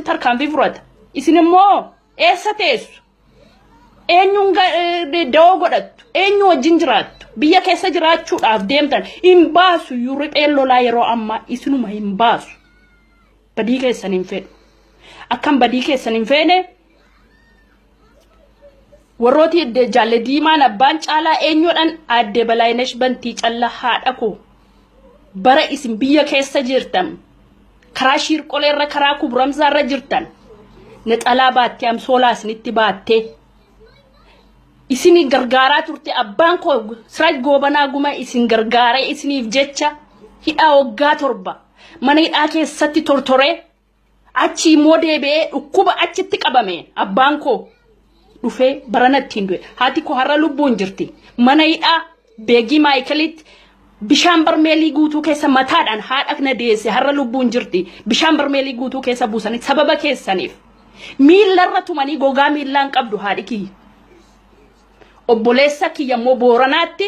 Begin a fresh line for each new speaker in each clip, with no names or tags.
tarkaanfii fudhata. Isin immoo eessa teessu? Eenyuun dawoo godhattu? Eenyu wajjin jiraattu? Biyya keessa jiraachuudhaaf deemtan hin baasu iyyuu ripheen lolaa yeroo ammaa isinuma hin baasu. Badii keessan hin fedhu. Akkan badii keessan hin feene Warrooti jaalle diimaan abbaan caalaa eenyuudhaan aadde balaayinesh bantii calla haadha koo bara isin biyya keessa jirtan karaa shiirqolee irra karaa kubramsaa irra jirtan naxalaa baattee amsoolaa isinitti baattee isin gargaaraa turte abbaan koo siraaj goobanaa guma isin gargaaree isiniif jecha hidhaa waggaa torba mana hidhaa keessatti tortoree Achii immoo deebi'ee dhukkuba achitti qabame abbaan koo dhufee barana ittiin du'e. Haati koo har'a lubbuun jirti. Mana hidhaa beegii maayikalitti bishaan barmeelii guutuu keessa mataadhaan haadha na deesse har'a lubbuun jirti. Bishaan barmeelii guutuu keessa buusanii sababa keessaniif. Miillarra tumanii gogaa miillaan qabdu haadhi kiyya. Obboleessa kiyya immoo booranaatti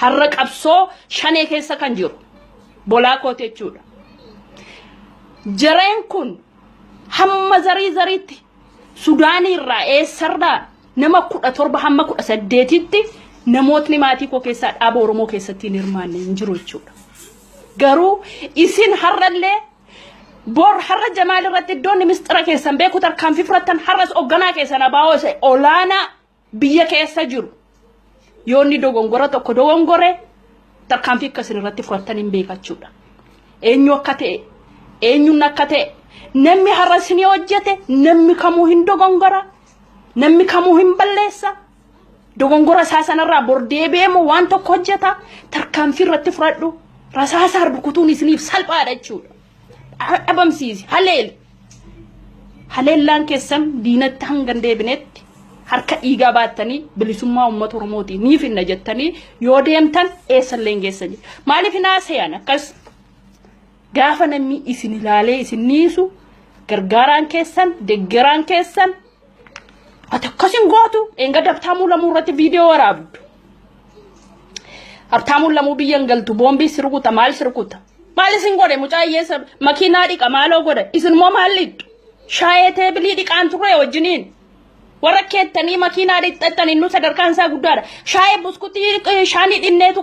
Har'a qabsoo shanee keessa kan jiru bolaa kooti jechuudha. Jareen kun hamma zarii zariitti Sudaanii irraa eessarraa nama kudha torba hamma kudha saddeetitti namootni maatii koo keessaa dhaaba Oromoo keessatti hin hirmaanne hin jiru jechuudha. Garuu isin har'allee bor har'a jamaal irratti iddoonni misxira keessan beeku tarkaanfii fudhattan har'as hoogganaa keessan abaa'oo isa olaanaa biyya keessa jiru yoo inni dogongora tokko dogongore tarkaanfii akka isin irratti fudhattan hin beekachuudha. Eenyu akka ta'e eenyuun akka ta'e namni har'a isin hojjete namni kamuu hin dogongora namni kamuu hin balleessa dogongora isaa sanarraa bor deebi'eemu waan tokko hojjeta tarkaanfii irratti fudhadhu rasaasaan rukutuun isiniif salphaadha jechuudha. dhabamsiisi haleeli haleellaan keessan diinatti hanga hin deebinetti harka dhiigaa baattanii bilisummaa uummata oromooti ni finna jettanii yoo deemtan eessallee hin geessan jedhu. maaliif hin haasa'an akkas gaafa namni isin ilaalee isin niisu gargaaraan keessan deggeraan keessan Ati akkas hin gootu. Enga dabtaamuu lamuu irratti viidiyoo waraabdu. Habtaamuun lamuu biyya hin galtu. Boombii si rukuta maal si rukuta. Maal isin godhe mucaa hiyyeessa makiinaa dhiqa maaloo godhe. Isin immoo maal dhiqxu? Shaayee teebilii dhiqaan turre wajjiniin. Warra keettanii makiinaa dhiqxattanii nu sadarkaan isaa guddaadha. Shaayee buskutii shaanii dhinneetu